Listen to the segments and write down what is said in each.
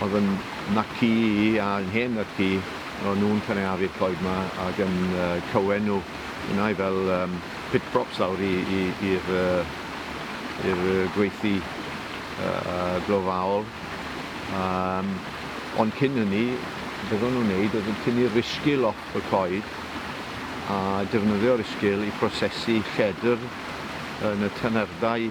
Oedd yn naci i a yn hen naci, o'n nhw'n cynaeafu'r coed 'ma ac yn cywen nhw yna i fel pit props lawr i'r gweithdy glofaol. Ond cyn hynny, beth o'n nhw'n wneud oedd yn tynnu'r risgil off y coed a defnyddio'r risgil i brosesu lledr yn y tynerddau.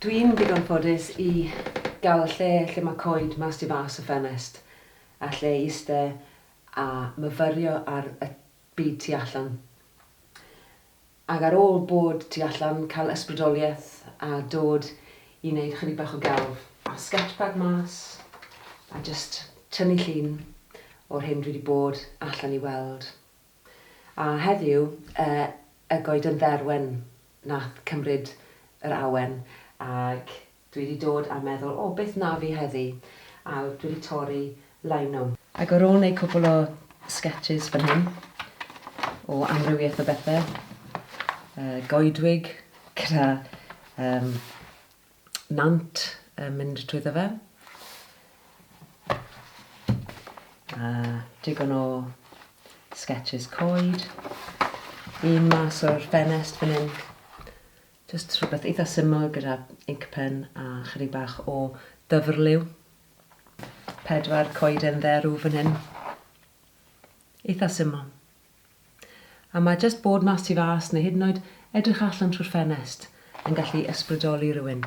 Dwi'n ddigon ffodus i gael lle lle mae coed mas tu fas y ffenest a lle i iste a myfyrio ar y byd tu allan. Ac ar ôl bod tu allan, cael ysbrydoliaeth a dod i wneud chydig bach o gelf. A sketchpad mas a jyst tynnu llun o'r hyn dwi 'di bod allan i weld. A heddiw, y goeden dderwen nath cymryd yr awen, ac dwi wedi dod a meddwl, o, beth na fi heddi, a dwi wedi torri lino. Ac ar ôl neud cwpwl o sgetshis fan hyn, o amrywiaeth o bethe, goedwig gyda nant yn mynd trwyddo fe. A digon o sketches coed. Un mas o'r ffenest fan hyn. Just rhywbeth eitha syml gyda ink pen a chydig bach o dyfrliw. Pedwar coeden dderw fan hyn. Eitha syml. A mae jyst bod mas tu fas neu hyd yn oed edrych allan trwy'r ffenest yn gallu ysbrydoli rhywun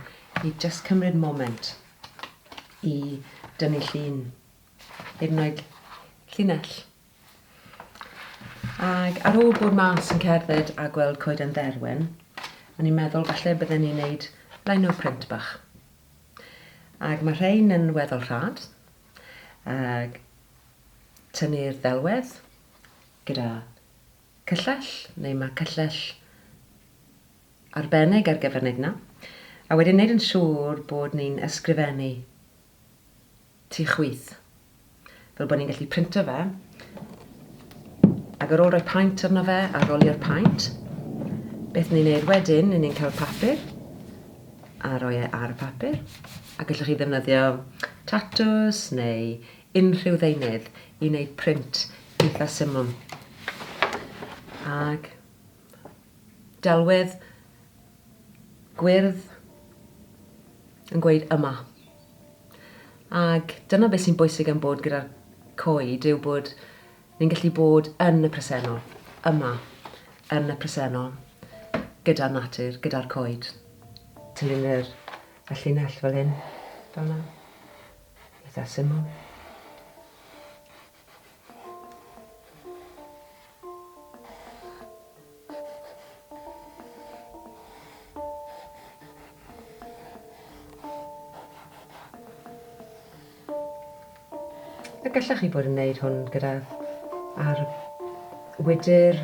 i jyst cymryd moment i dynnu llun, hyd yn oed llinell. Ac ar ôl bod mas yn cerdded a gweld Coeden Dderwen, o'n i'n meddwl falle bydden ni'n neud lino print bach. Ac mae rhain yn weddol rhad, ac tynnu'r ddelwedd, gyda cyllell, neu mae cyllell arbennig ar gyfer wneud yna, a wedyn wneud yn siŵr bod ni'n ysgrifennu tu chwith, fel bod ni'n gallu printo fe, ac ar ôl rhoi paent arno fe a rolio'r paent, beth ni'n neud wedyn, ni'n ni'n cael papur, a roi e ar y papur, a gallwch chi ddefnyddio tatws neu unrhyw ddeunydd i wneud print eitha syml ag delwedd gwyrdd yn gweud yma. Ag dyna beth sy'n bwysig am bod gyda'r coed yw bod ni'n gallu bod yn y presennol, yma, yn y presennol, gyda natur, gyda'r coed. Tynnu'n yr y llinell fel hyn, fel yna. Eitha syml. A gallech chi bod yn neud hwn gyda ar wydr